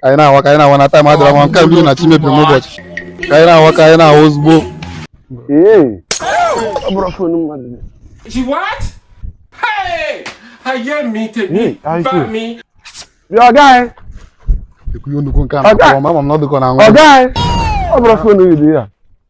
ka anyị na-awa ka anyị na-awa na time adịrọ nwa nke mbido na chi mebiri n'ụbọchị ka anyị na-awa ka anyị na-awa ozugbo oga anyị ọ bụrụ phone gị dị ya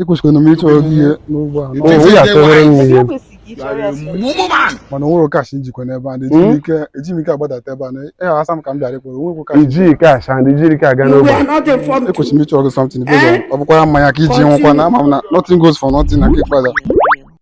ekwesịkwanụ m ịchọrọ gị ihe n'ụgbọ a It is ya a tụrụ m Ebe ihe o kwesịrị ka ị chọrọ ya sọ. woman. mana o nwere cash m jikwa n'ebe a na eji m ike eji m ike agbadata ebe a na asị m ka m bịara ịkpọrọ o nwekwa cash i ji cash and ijiri ka aga You n'ogbe were not informed. ekwesịrị m ịchọrọ gị something because Eh? ọ bụkwara mmanya ka i ji nwụkwa na ama m na nothing goes for nothing na nke ikpeazụ